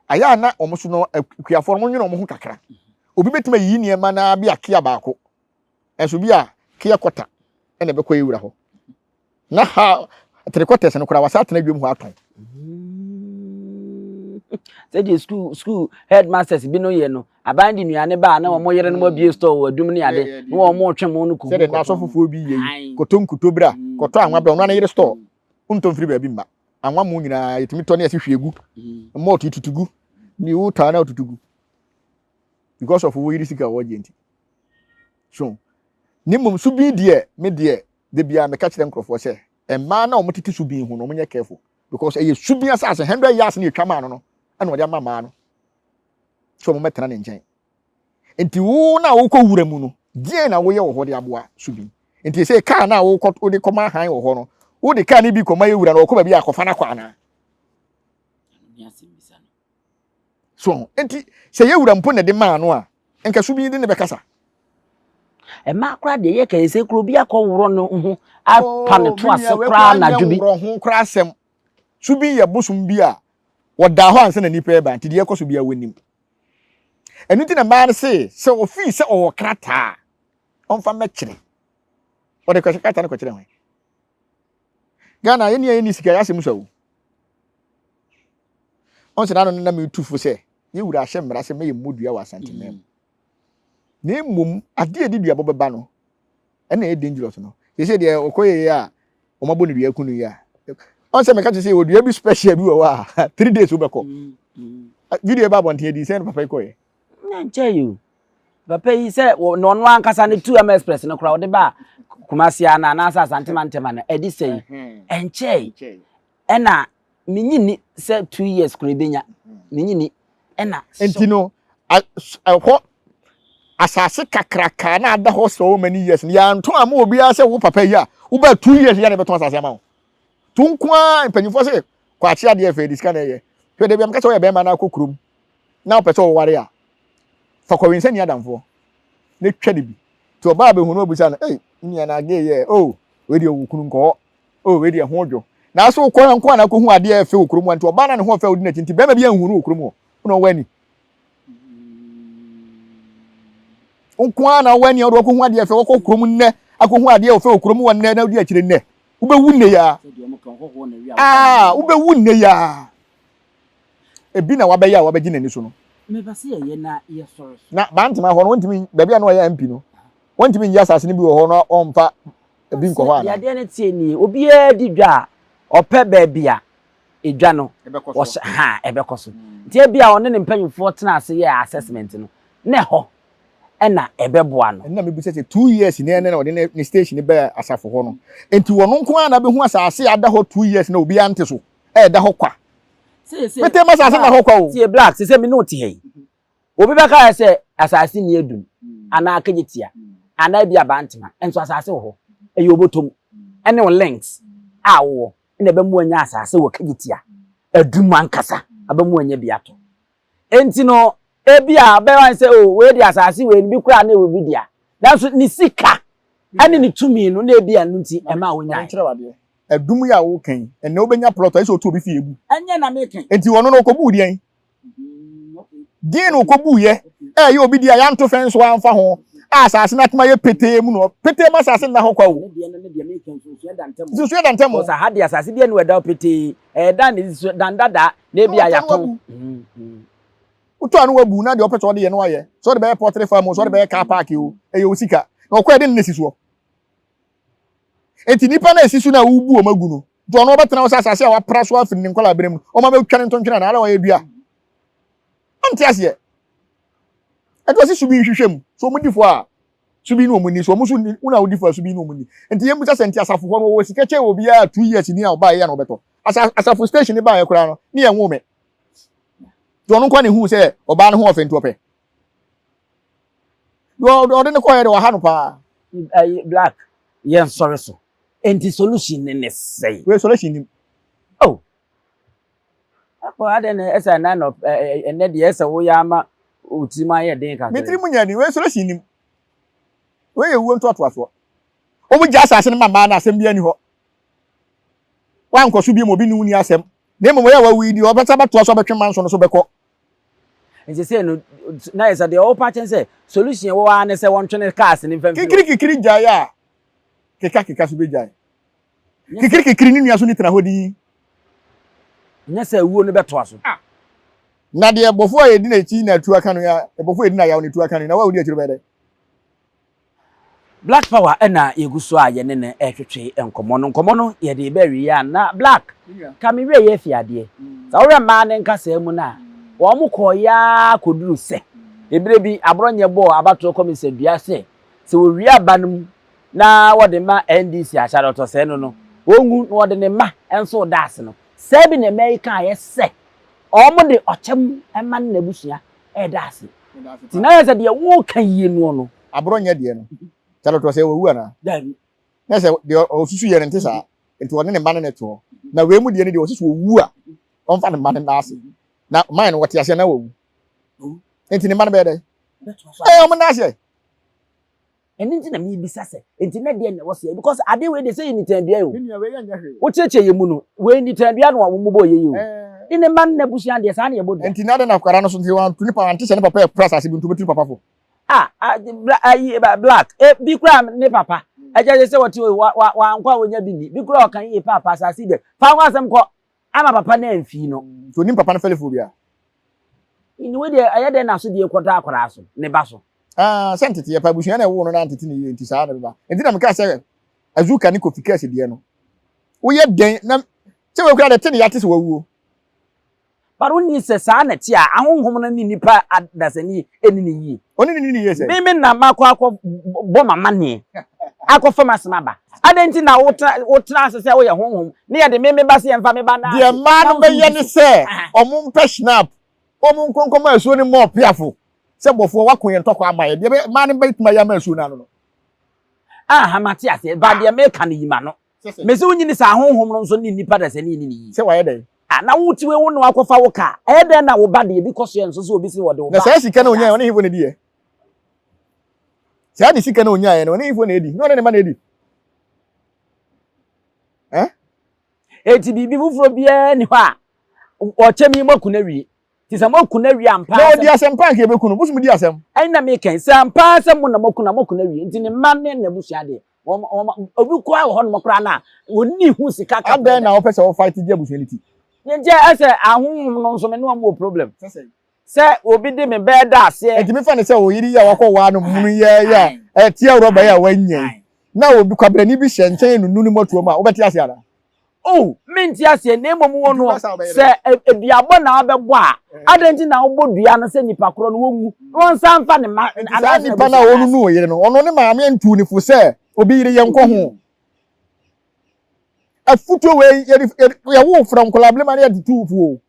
ayɛ a na wɔn nso no akuafoɔ no nwene wɔn ho kakra. Obi bɛtumi ayiyi nneɛma no ara bi a kea baako, nso bi a kea kɔta na ɛbɛkɔ yɛ wura hɔ. na ha three quarters no koraa wasa atena dwam hɔ atɔn. sɛdeɛ school school headmasters bi no yɛ no aban de nnuane baa na wɔn yere no mu abie store wɔ adum ne ade na wɔn mo twe mo no kuku sɛdeɛ n'asɔ fofoɔ bi yɛ yi kɔtɔ nkuto bra mm. kɔtɔ anwa bra ɔno ne yere store wontɔ mfiri baabi mma anwa mo nyinaa yɛtumi tɔ ne yɛsi hwie gu mmɔɔto mm. tutu gu ne wotaa na wotutu gu because of wo yere sika wɔgye nti So na mmom so bin deɛ me deɛ da biara meka kyerɛ nkurɔfoɔ sɛ mmaa no a wɔn tete so bin ho no wɔn nyɛ careful because ɛyɛ so bin asase hundred yards na yɛtwa maa no no ɛna wɔde ama mmaa no sɛ wɔn bɛtena ne nkyɛn nti wo na wokɔ wura mu no deɛn na woyɛ wɔ hɔ de aboa so bin nti sɛ kaa na wokɔ wode kɔma han wɔ hɔ no wode kaa no bi kɔma yɛ wura na ɔkɔ baabi akɔfa no akɔ anaa so nti sɛ yɛ wura mpo na ɛde maa no a nka so bi de ne bɛkasa ɛmaa koraa deɛ yɛ kɛyɛ sɛ kuro bi akɔ worɔ no ho apa ne to ase koraa anadwo bi worɔ ho koraa asɛm so bi yɛ bosom bi a wɔdaa hɔ ansa na nipa ɛba nti deɛ ɛkɔ so bi a wɔnim ɛno nti na mmaa no se sɛ ofii sɛ ɔwɔ krataa ɔmfa mɛkyerɛ ɔde kɔhyɛ krataa no kɔkyerɛ hwan Ghana yɛn nea yɛn ni sika yɛ asɛm sɛ o. Ɔn sɛ n'ano no na mi tu fo sɛ yɛ wura ahyɛ mmara sɛ mɛyɛ mmodua wɔ Asanteman mu. Na mmom adeɛ a ɛde duabɔ bɛba no ɛna ɛyɛ dangerous no. Sɛsɛ deɛ ɔkɔ yɛ yɛ a wɔn abɔ ne dua aku no yɛ a. Ɔn sɛ mɛka kyerɛ sɛ yɛwɔ dua bi special bi wɔ hɔ a three days wobɛkɔ. Video ɛba abɔnten adi sɛ ɛna papa yi kɔɛ. nyɛ nkyɛ yi o papa yi sɛ na ɔno ankasa ne two m express no koraa ɔde ba kumasi ana anaasɛ asantema ntɛm ana ɛde sɛ yi ɛnkyɛ yi ɛna menyi ni sɛ two years kura ebenya menyi ni ɛna. nti no ɛhɔ asase kakraka na ada hɔ sɛ ɔma ni years no yɛanto ama obiara sɛ wo papa yi a woba two years yɛ na ɛbɛtɔn asase ama wo to nko ara mpanyinfoɔ sɛ kwakye adeɛ fɛ de sika na ɛyɛ hwɛ de bi amka sɛ ɔyɛ bɛrima na akɔ kurom na wopɛ sɛ woware a, fa kɔ wensani adamfoɔ na twa no bi. Nti ɔbaa bɛhu no ɔbisa no, ei, me nua na gay yɛ, oh, wei deɛ ɔwɔ kunu nkɔ hɔ, oh, wei deɛ ɛho dwo. Nanso wokɔ hɔ nko a na akɔhu adeɛ a ɛyɛ fɛ wɔ kurom hɔ, nti ɔbaa no a ne ho ɔfɛ a ɔdi n'akyi nti bɛrima bi anhu no wɔ kurom hɔ, wona ɔwɔ ani. Wo nko ara na ɔwɔ ani a wode wakɔhu adeɛ fɛ, wakɔ kurom nnɛ akɔhu adeɛ ɔfɛ wɔ kurom hɔ nnɛ na wodi akyire nnɛ. Wobɛwu nnɛ yi ara. Aa, wobɛwu nnɛ yi ara. Ebi na wabɛyɛ a wabɛgye n'ani so no. Mepɛ sɛ yɛyɛ na yɛsɔre so. Na Bantama hɔ no, wɔntumi, baabi a na ɔyɛ MP no, wɔntumi nyi asase no bi wɔ hɔ na wɔmfa ebi nkɔ hɔ anaa? Deɛ adeɛ no teɛ nie, obiara di dwa a, ɔpɛ baabi a edwa no, ɔhyɛ, ha, ɛbɛkɔ so. Nti ebia ɔne ne mpanyimfoɔ tena ase yɛɛ assessment no, na ɛhɔ na ɛbɛboa no. Ɛno na mebisa sɛ, two years na ɛnɛ na ɔde ne station baa asafo hɔ no, nti ɔno nko ara na abehu asase a ada hɔ two years na obiara nte so? ɛda hɔ kwa mete ma asase da hɔ kwa o tie black sɛ me ne wote ha yi obi bɛka yɛ sɛ asase ni adum anaa kagye tia anaa bi abantema nso asase wɔ hɔ ɛyɛ obotom ɛne wo links a wowɔ ɛna ɛbɛmu anya asase wɔ kagye tia adum ankasa abɛmu anya bi ato Enti no, ebia ɛbɛyɛ wɔn sɛ, 'O, wei de, asase wei no, bi koraa na ɛwɔ bi dea. Nanso ne sika ne ne tumi no na ebia ɛno nti ɛmaa onyae. Adum yi a woka yi, ɛnnɛ wobɛnya plɔt a ɛsɛ sɛ ɔtu obi fi egu. Ɛnyɛ na meka yi. Enti ɔno no ɔkɔbuu deɛn? Deɛn na ɔkɔbuiɛ? Ɛyɛ obi deɛ a yɛanto fɛn nso amfa ho a asase no atoma yɛ petee mu no, petee ma asase nna hɔ kwa o. Nsusuiɛ da ntam o. Because aha deɛ asase deɛ ne wɔ ɛda hɔ petee. ɛda ne so dan dada na ebi a yɛatɔn. wotɔ ano wabu na deɛ ɔpɛ sɛ ɔde yɛ no ayɛ sɛ ɔde bɛyɛ pɔtere fam sɛ ɔde bɛyɛ car park o ɛyɛ o sika na ɔkɔ ɛde ne si soɔ nti nipa na esi so na wobu wɔn agu no nti ɔno ɔbɛtena hɔ sɛ asase a wapra so afiri ne nkɔla abere mu wɔn abɛtwa ne ntontwene na ara wɔyɛ dua ɔnte aseɛ ɛde ɔsi so bi nhwehwɛ mu so wɔn di fo a so bi ne wɔn nni so wɔn nso nni wo na wodi fa so bi ne wɔn nni nti yɛn bisa sɛ nti asafo hɔ no wɔwɔ sika kyɛ obiara two years ni a ɔbaa yɛ na ɔbɛtɔ asa asafo station ne baa yɛ koraa no ne yɛn ho mɛ deɛ ɔno nkwa ne hu sɛ ɔbaa ne ho ɔfɛ nti ɔpɛ deɛ ɔde ne kɔɛ de ɔha no paa. black yɛn sɔre so nti solution ne ne sɛn. wei solution nim. oh Ɛpo adɛn na ɛsɛ ɛnɛ nɔ ɛnɛ deɛ ɛsɛ wo yɛ ama wo tirim ayɛ den kakra. Me tirim mu nyɛ den wei soro si nim wei yɛ wuo ntoatoasoɔ. Wɔn gya asase no ma mmaa no asɛm bi ani hɔ wankɔ so bio ma obi ne wo ni asɛm na mmom wɔyɛ wawu yi deɛ ɔbɛsa abɛtoa so abɛtwe manso no so bɛkɔ. Nti sɛ no na yɛ sɛ deɛ ɔwɔ pa kyɛn sɛ solution wɔ ara ne sɛ wɔntwene cars no mfamfini hɔ. Kikiri kikiri gyae a keka keka so bɛgyae. Kikirikikiri ne nua so ne tena hɔ dinn. Nyɛ sɛ awuo no bɛtoa so. Na deɛ bɔfoɔ a ɛdi n'akyi na atuo aka no, deɛ bɔfoɔ a ɛdi n'ayaw na atuo aka no, na wo a wodi akyire bɛyɛ dɛn? Black power ɛna yɛgu so a yɛne no ɛretwetwe nkɔmmɔ no. Nkɔmmɔ no yɛde ba awieɛ a na Black ka me werɛ yɛ fi adeɛ. Sɛ wohwɛ mmaa no nkasaa mu no a, wɔn kɔeɛ ara kɔduru sɛ, ɛberɛ bi aborɔnyɛ bɔɔ abatoɔ kɔmesa dua sɛ, sɛ wɔwie aba no mu na wɔde ma NDC ahyɛade ɔtɔsɛɛ no no, ɔnwu na wɔde ne mma nso reda ase no, saa bi na mmaa yi kaeɛ sɛ wɔde ɔkyɛ mu mma ne n'abusua reda ase. Nti na ayɛ sɛ deɛ woreka yie noɔ no. Aborɔ nyɛ deɛ no. Ahyɛade ɔtɔsɛɛ wawu anaa? Daabi. Na sɛ deɛ ɔsusuiɛ no nte saa nti wɔde ne mma ne no toɔ. Na wei mu deɛ no deɛ wɔse sɛ ɔwu a wɔmfa ne mma no nna ase. Na mine no wɔte aseɛ na wɔwu. Nti ne mma no bɛyɛ dɛn? Wɔbɛtoa so ayɛ. Wɔnna aseɛ. Ɛno nti na mebisa sɛ, enti na deɛ na ɛwɔ sɛ yɛ? Because ade wei de sɛ yɛ nitandua o. Wokyerɛkyerɛ yɛ mu no, wei nitandua no a wɔn bɔɔ yɛ yi o. Ne ne mma ne n'abusua deɛ saa na yɛbɔ dua. Enti na adɛn na akwadaa no so nti wantu ne papa ante sɛ ne papa yɛ kura asase bi nti obeturu papa fo? Ah, ah, bla, ayi, eh, ba- black. Eh, bi kura ne papa. Ɛkyɛ sɛ sɛ wɔte o, wa, wa, wankɔ a wɔnya bi ni. Bi kura ɔka yie paapa, asase dɛ. Fa ho asɛm kɔ. Ama papa no amfi no. Nti onim papa no fɛlɛfoɔ bi a. Nti wei deɛ ɛyɛ dɛn na asodie kɔtɔ akwadaa so, ne ba so? Ah, sɛ nteteɛ pa, abusua na ɛwoo no na antete ne yie nti saa na ɛbɛba. Nti na mekaa sɛ Azuka ne Kofi Kers deɛ no, woyɛ dɛn na sɛ wei koraa deɛ te ne yate sɛ wawuo. But wonni sɛ saa na ɛte a ahonhom no ne nnipa adasani nni no yie. Ɔne ne nini yɛ sɛ. Me me na makɔ akɔ bɔ m'amaneɛ akɔ fam asɛm aba. Adɛn nti na wotra wotra ase sɛ woyɛ honhom ne yɛde me me ba sɛ yɛmfa me ba nna ase. Deɛ mmaa no bɛyɛ ne sɛ wɔn mpɛ Schnapp wɔn nkɔ nkɔma asuo no mmɔ ɔpeafo sɛ bɔfoɔ wako yɛn ntɔkwa ama yɛn deɛ mmaa no bɛtumi ayɛ ama asuo no ano no. Aha mate aseɛ ba deɛ meka no yi m'ano. Mese wo nyini saa honhom no nso ne nnipa dasani ne ne yi. Sɛ wayɛ dɛn? A na wo tiwe wo ne wakɔfa wo ka. Ɛyɛ dɛn na wo ba deɛ bi kɔ soɛ nso sɛ obi se wɔde wo ba. Na saa sika no onyaɛ ɔne hefo na ediɛ? Saa de sika no onyaɛ no ɔne hefo na edi? Na ɔne ne ma na edi? Eh? Eti biribi foforɔ biara ni hɔ a ɔkyɛm yi moaku no awie. Ti sɛ moaku no awie ampa asɛm. Na ɔdi asɛm paa nka yɛbɛku no. Bosom di asɛm. Ɛna meka yi, sɛ ampa asɛm mo na moaku no a moaku no awie. Nti ne mma ne n'abusua deɛ, wɔn wɔn obi kura wɔ hɔnom koraa na wɔnni ho sika kakra. adɛn na wɔpɛ sɛ wɔfight gye abusua no ti. nti ɛsɛ ahohom no nso me ne wɔn wɔ problem sɛ obi de me bɛɛ da aseɛ. nti mefa ne sɛ oyiri yi a wakɔ waa no munu yɛ yɛ a ɛteɛ rɔba yi a wanya yi na obi kwabrani bi hyɛ nkyɛn nunu ne mɔtoɔ mu a wobɛte ase anaa. Oh, mente aseɛ, na mmom wo no, sɛ aduabɔ na wabɛbɔ a, eh. adɛn nti na wobɔ dua no sɛ nipa korɔ no wɔnwu na wɔnsa mfa ne ma saa nipa no a ɔnunu wo yere no ɔno ne maame antu ne fo sɛ obi yere yɛnkɔ ho mm. afutuo wei yɛwo frɛ nkɔla bilema ne yɛde tu fuo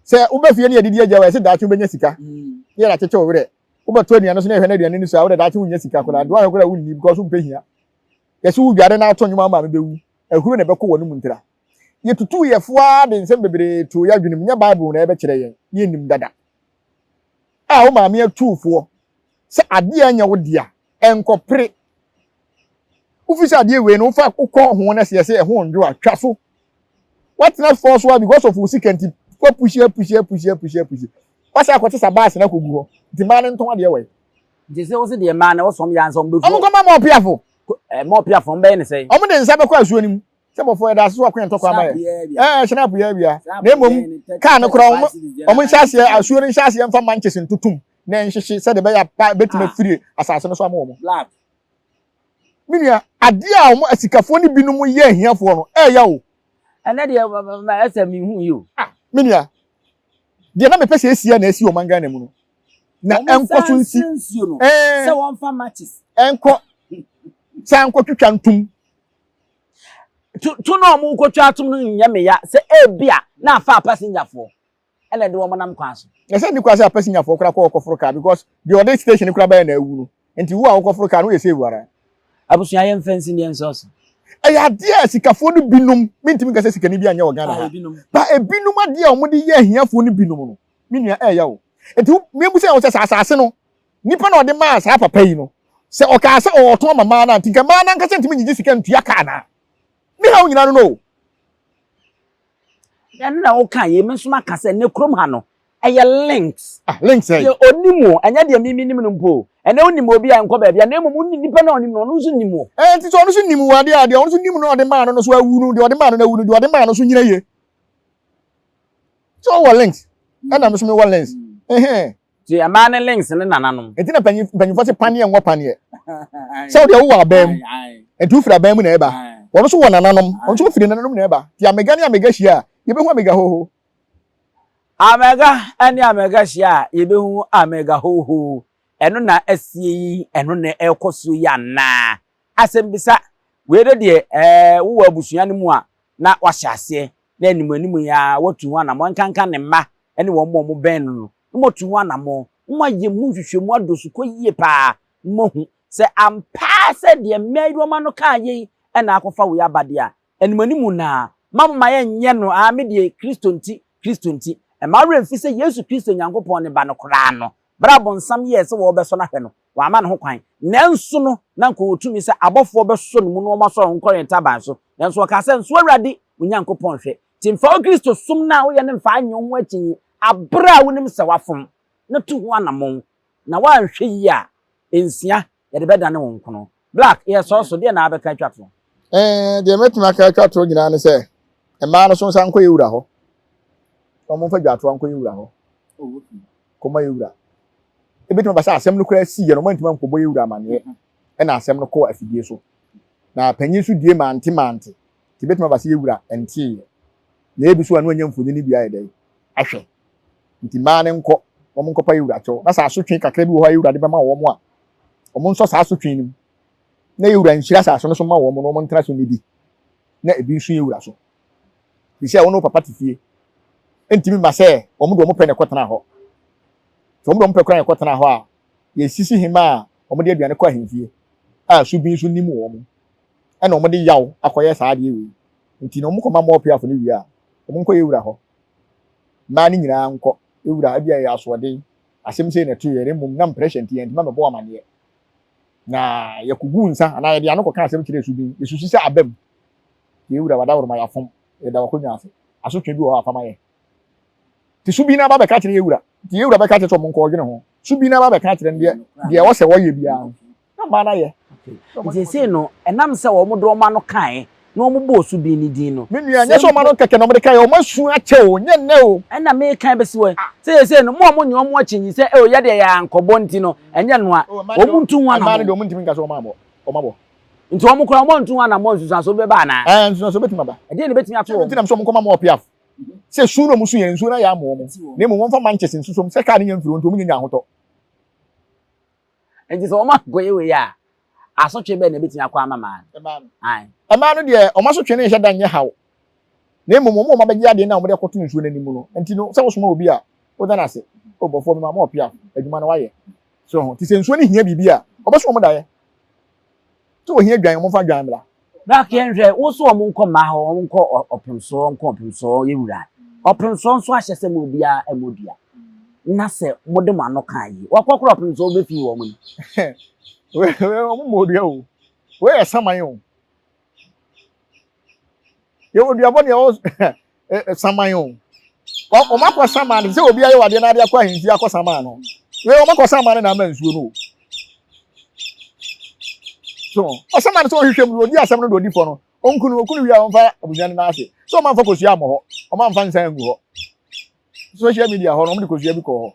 sɛ wobɛ fie ne yɛdidi agya wɔ ɛsɛ daakye wobɛnya sika mm. ne yɛde akyekye wo werɛ wobɛto aduane so na ɛhwɛ no aduane no so a wode daakye wonya sika koraa aduane koraa wonni because wompɛ hia Yɛse wo dware na to nnwom ama me bɛwu, ahuro na ɛbɛkɔ w'anom ntira. Yɛtutuu yɛfo ara de nsɛm bebree too y'adwenem, nyɛ Bible na yɛbɛkyerɛ yɛn, na yɛnnim dada. A wo maame atuu foɔ sɛ adeɛ a ɛnyɛ wo dea, ɛnkɔpere. Wofiri sɛ adeɛ wei no wofa kɔ ho na sɛ yɛse ɛho nnwo a, twa so. Woatena fɔɔ so ara because of wo sika nti, woapushi, apushi, apushi, apushi, apushi. Woasan akɔte sa baase no akɔgu hɔ, nti mmaa no ntɔn adeɛ wɔ he? Gye sɛ wose deɛ mmaa na wɔsɔm yɛ ansa wɔbɛfu. Wɔn nkɔma ma ɔpeafo. Ɛɛ ma ɔpeafo wɔn bɛyɛ ne sɛn. Wɔn de nsa bɛkɔ asuo no mu. Sɛ bɔfo yɛda ase so ɔko yɛ ntɔkwa ama yɛ. Ɛɛ hyɛn apo yɛ awia. Na mmom kaa no koraa wɔn wɔn nhyɛ aseɛ asuo no nhyɛ aseɛ nfa manches ntotom na ɛnhyehye sɛdeɛ ɛbɛyɛ a pa bɛtumi afiri asase no so ama wɔn. Me nua adeɛ a wɔn asikafoɔ no binom yɛ ahiafoɔ no ɛɛya o. Ɛnɛ deɛ ɛsɛ mehu yi o. Ah me nua deɛ na mepɛ sɛ esia na esi wɔn man Ghana mu no. na ɛnkɔ so nsi sɛ wɔmfa matches ɛnkɔ san nkɔtwitwa ntom to na wɔn kɔtwa atom no nyɛ meya sɛ ebi a na afa apasinyafoɔ ɛna ɛde wɔn nam kwan so. na sɛ nikura sɛ apasinyafoɔ kora kɔ ɔkɔforo kaa because deɛ ɔde station kora bɛyɛ na awu no nti wo a ɔkɔforo kaa no yɛ save ara. abusua yɛn fɛn si deɛ nsɔs. ɛyɛ adeɛ a sikafoɔ no binom mentumi nka sɛ sikani bi anyɛ wɔ ghana ha ba ebinom adeɛ a wɔde yɛ ahiafoɔ no binom no me nua, ɛyɛ wo. Enti wo, mebu sɛ, ɔsɛ sɛ asase no, nipa na ɔde maa saa papa yi no, sɛ ɔkaa sɛ ɔwɔ ɔtɔn ma maa no a, nti nka maa no ankasa ntumi ngyegye sika ntua ka anaa? Ne haw nyinaa no no o. Ɛno na woka yei, me nso maka sɛ, nnɛ kurom ha no, ɛyɛ links. Ah, links ɛyɛ. Deɛ ɔnim o, ɛnyɛ deɛ mimi nim no mpo o. Ɛnɛ wonim obi a nkɔ baabi a, na mmom wonim nipa no a ɔnim no, ɔno nso nim o. Ɛɛ, nti sɛ ɔno nso nim o, adeɛ a, deɛ ɔno nso nim no a ɔde maa no no so awu no, deɛ ɔde maa no no awu no, deɛ ɔde maa no nso nyina yie. So wowɔ links? Ɛna me so mewɔ links. Ɛhɛn. Ti ɛmaa ne links ne nananom. Ɛti na panyin panyinfoɔ se paneɛ nwɔ paneɛ. Sɛ wodeɛ wowɔ abɛn mu. Ɛti wofiri abɛn mu na ɛba. Wɔn so wɔ nananom. Wɔn so wofiri nananom na ɛba. Ti amega ne amega hyia a, yɛbɛhu amega hoho. Amega ne amega hyia a, yɛbɛhu amega hoho. Ɛno na asie yi, ɛno na ɛkɔ so yi anaa? Asɛmbisa, Wei do deɛ ɛɛ wowɔ abusua no mu a na wahyɛ aseɛ na anim anim yi ara watu ho anamɔn nkanka ne mma ne wɔn a wɔbɛn no no na moatu ho anamɔn na moayɛ mu nhwehwɛmu adɔ sukɔ yie pa ara na moahu sɛ ampa ara sɛ deɛ mmɛ yi wɔma no kaa yei na akɔfa wei aba deɛ a anim anim no ara ma moma yɛnyɛ no aa me deɛ Kristo nti Kristo nti mma wo werɛ mfi sɛ Yesu Kristo Nyankopɔn ne Ba no koraa no berɛ a bonsam yɛɛ sɛ wɔrebɛsɔ no ahwɛ no Wamma no ho kwan. Nanso no, na anka ɔwɔ tumi sɛ abɔfoɔ bɛsɔ no mu na wɔasɔ no nkɔwɛn ntaban so. Nanso ɔkaa sɛ, Nso Awurade, wo Nyankopɔn hwɛ. Enti mfa wo Kristosom no a woyɛ no mfa nnye wo ho akyinnye bere a wonim sɛ woafom, na tu ho anammɔn. Na woanhwɛ yie a, nsia, yɛde bɛdane wo nkono. Black, yɛ sɔɔ so, deɛ na abɛka atwa to? Ɛɛ, deɛ mɛtumi aka atwa to nyinaa ne sɛ, mmaa no so nsa nkɔ yɛ wura hɔ. Na wɔn nfa dwaatoa nkɔ yɛ wura hɔ. Kɔma yɛ wura. Ebetumi aba sɛ asɛm no koraa sii yɛ no, wɔn ntoma nkɔbɔ yɛ wura amaneɛ. Ɛna asɛm no kɔɔ afidie so. Na panyin nso die mante mante. Nti ebetumi aba sɛ yɛ wura ntee yɛ. Na ebi so a na wɔnyɛ mfonini bi ayɛ dɛn ahwɛ. Nti mmaa no nkɔ, wɔn nkɔpa yɛ wura kyɛw. Na sɛ asotwe kakra bi wɔ hɔ a yɛ wura de bɛma wɔn a, wɔn nsɔ saa asotwe no mu, na yɛ wura nhyira asase no so ma wɔn na wɔn ntena so nnidi, na ebi nso yɛ wura so. Ɛfiri sɛ wɔn ne wo papa te fie. Ɛntumi mma sɛ wɔn de wɔn pɛ na ɛkɔtena hɔ. Sɛ wɔn de wɔn pɛ koraa na ɛkɔtena hɔ a, yɛsisi hema a wɔde aduane kɔ ahemfie a su bi nso nnim wɔn, ɛna wɔde yaw akɔyɛ saa adeɛ wei. Nti na wɔkɔma mmoa ɔpeafo no wie a, wɔnkɔyɛ wura hɔ. Mmaa no nyinaa nkɔ wura, ebi a ɛyɛ asoɔden. Asɛm sei na ɛtoo yɛn, na mmom na mprɛhyɛ nti yɛantumi ammɛbɔ amanneɛ, na yɛkoguu nsa anaa yɛde ano kɔkaa asɛm kyerɛɛ Subin. Yesusu sɛ aba mu. Yɛn wura, w'adaworoma yɛafom, yɛda w'akonnwa ase. Asotwe bi wɔ hɔ a fa ma yɛn. Nti Subin aba abɛka akyerɛ yɛn wura. Nti yɛn wura bɛka akyerɛ sɛ wɔnkɔ wɔdwene ho. Subin aba abɛka akyerɛ no deɛ ɔsɛ wɔyɛ biara no. na ɔmaa no ayɛ. Nti esei no, ɛnam sɛ wɔn de wɔn ano kae na wɔn bɔɔ so dii ne din no. Me nua, nyɛ sɛ wɔn ano kɛkɛ na wɔn de kae o, wɔn asu akyɛ o, nyɛ nnɛ o. Ɛna mekan bɛsi hɔ yi, sɛ esei no, mo a monnye wɔn akyinnye sɛ, eo, yɛ deɛ yɛankɔbɔ nti no, ɛnyɛ noa, wɔn ntu ho anammɔn. Mmaa no deɛ, wɔn ntumi nka sɛ wɔn abɔ, wɔn abɔ. Nti wɔn koraa, wɔn antu ho anammɔn, nsunsuansoɔ bi bɛba anaa? Ɛɛ, nsunsuansoɔ bɛtumi aba. Ɛdeɛn na ɛbɛtumi ato wɔn? Sɛ nti na mesɛ wɔnkɔma mo wɔ Piaf, sɛ su na wɔsu yɛn, nsuo no ayɛ ama wɔn, na mmom wɔmfa mankyɛse nsuso mu, sɛ kaa no nya mfiri hɔ nti wɔnnya nya ahotɔ. Enti sɛ wɔankɔyɛ wei a, asotwe bɛn na ebetumi akɔ ama mmaa no? Ae. Mmaa no deɛ, wɔn asotwe no nhyɛ da nyɛ haw, na mmom wɔn a wɔabɛgye adeɛ no a wɔde akɔto nsuo no anim no nti no, sɛ wosoma obi a, woda no ase, O bɔfoɔ, mema mo ɔpeaw, adwuma no wɔayɛ. So ho? Enti sɛ nsuo no hia biribi a, wɔbɛso wɔn daeɛ. So ohia dwan wɔn fa dwan bra. Brak yɛn hwɛ wo so wɔn nkɔ mmaa hɔ wɔn nkɔ ɔpem soɔ nkɔ ɔpem soɔ yɛ wura ɔpem soɔ nso ahyɛ sɛ mo obiara ɛmɔ dua na sɛ mo de mo ano kan yi wɔkɔ koro ɔpem soɔ bɛ fi wɔn mu. Wɔn mo odua o wɔyɛ saman o. yɛwɔ duabɔ deɛ ɔwɔ saman o wɔn akɔ saman no sɛ obi ayɛ wadeɛ na ade akɔ ahemfie akɔ saman no wei wɔn akɔ saman no na ama nsuo no o so ɔsaman no sɛ ɔhwehwɛ mu odi asɛm no do odi fɔ no ɔnkunu ɔkunu wia ɔmfa abusua no n'ase sɛ ɔmanfa kosua mmɔ hɔ ɔmanfa nsa ngu hɔ social media hɔ no wɔde kosua bi kɔɔ hɔ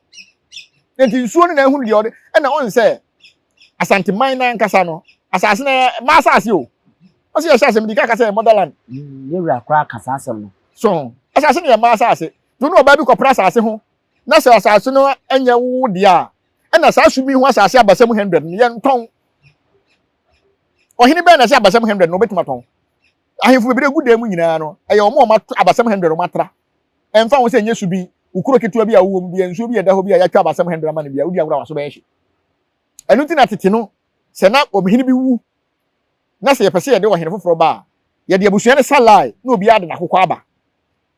na nti nsuo no na ehunu deɛ ɔde ɛna ɔn sɛ asanteman no ankasa no asase no ma asase o ɔsi yɛ hyɛ asɛm di kaka sɛ motherland. Mm, yɛ wura koraa kasa asɛm no. so asase no yɛ ma asase dunu ɔbaa bi kɔpra asase ho na sɛ asase no nyɛ wo deɛ a ɛna saa sumi ho asase abasɛm hundred no yɛ ntɔn ɔhene bɛn na ɛsɛ abasɛm hundred no ɔbɛtumi atɔn ahemfo bebree gu dan mu nyinaa no ɛyɛ wɔn a wɔn abasɛm hundred wɔn atra Ɛmfa ho sɛ ɛnyɛ su bi, wo kuro ketewa bi a wowɔ mu bi, nsuo bi a ɛda hɔ bi a yɛatwa abasɛm hɛndra ma no bi a, wodi agorɔ a w'aso bɛyɛ hye. Ɛno nti na tete no, sɛ na ɔhene bi wu na sɛ yɛpɛ sɛ yɛde ɔhene foforɔ ba a, yɛde abusua no sa lae na obiara de n'akokɔ aba.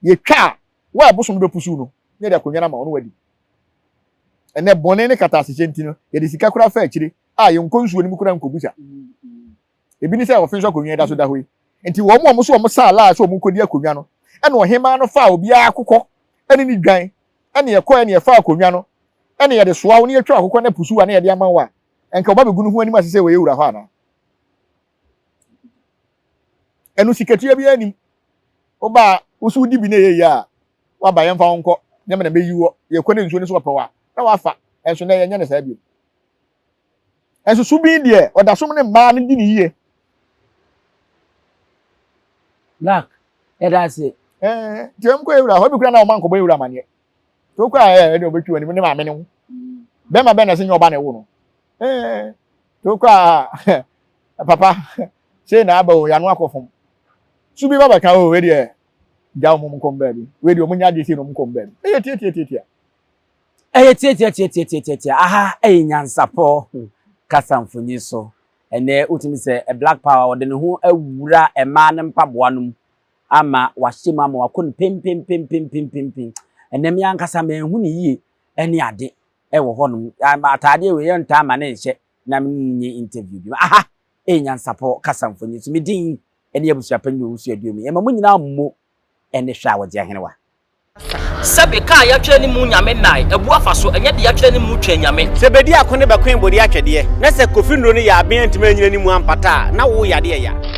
Yɛtwa a, wo a ɛbosom no bɛpusuw no na yɛde akonnwa no ama wo na wadi. Ɛnnɛ, bɔne ne kataasehyɛ nti no, yɛde sika koraa fa akyire a yɛnkɔ nsuo no mu koraa nkɔgu sa. Ebi ne sɛ ɔfe nso akonnwa da so da hɔ yi nti wɔn a wɔso wɔn saa laa sɛ wɔrekɔdi akonnwa no ɛna ɔhemaa no faa obiara akokɔ ɛne ne dwan ɛne ɛkɔ ɛne ɛfaa akonnwa no ɛne yɛde soa wo ne yɛtwa akokɔ no apusuwa ne yɛde ama wo a ɛnka ɔba bɛgu no ho anim ase sɛ wɔyɛ wura hɔ anaa ɛno sikatua biara nim wobaa woso wodi bi na ɛyɛ yie a waba yɛmfa wo nkɔ nyɛma na bɛyi wɔ yɛkɔ ne nsuo no so wɔpɛ wɔ a na wafa ɛnso na yɛnyɛ ne saa bio Nanso Subin deɛ, ɔda so ne mmaa no di no yie. Black, yɛda ase. Ɛɛ, nti wɔn kɔ ewura hɔ, ebi kura na wɔn ankɔbɔ ewura amaneɛ. Nti wokɔ a ɛɛ, ɛdeɛ ɔbɛtwi wɔn ne maame ne ho. Bɛrima bɛn na ɛsɛ nyɛ ɔba na ɛwo no. Ɛɛ, nti wokɔ a papa, sei na aba o, yɛano akɔ fam. Subin ba bɛka o, wei deɛ, gya wɔn nkɔ wɔn baabi. Wei deɛ wɔn nyɛ adeɛ sei na wɔn nkɔ wɔn baabi. Ɛyɛ tiatiatiatia. Ɛyɛ tiatiatiatiatiatiatia. Aha yɛ nyansapɔ kasa mfonyin so. Ɛnnɛ wotumi sɛ Black Power ɔde ne ho awura mmaa no mpaboa no mu ama wahyɛ mu ama wakɔ no pempempempempempem. Ɛnnɛ me ankasa manhu no yie ne ade wɔ hɔnom. Ataadeɛ wei yɛntaa ma no nhyɛ na me ne no nyɛ interview bio. Aha yɛ nyansapɔ kasa mfonyin so. Me din ne Abusuapɛn ne Owusu Aduomi. Yɛma mo nyinaa mo ne hwɛ a wɔdze ahenewa. Sɛ be ka a yɛatwerɛ ne mu Nyame nnae, abu afa so, ɛnyɛ de yɛatwerɛ ne mu Twɛn Nyame. Sɛ be di ako ne bɛkoe bode atwɛdeɛ, na sɛ kofi nnuro no yɛ aben antumi anyina ne mu ampata a, na wo yadeɛ ya.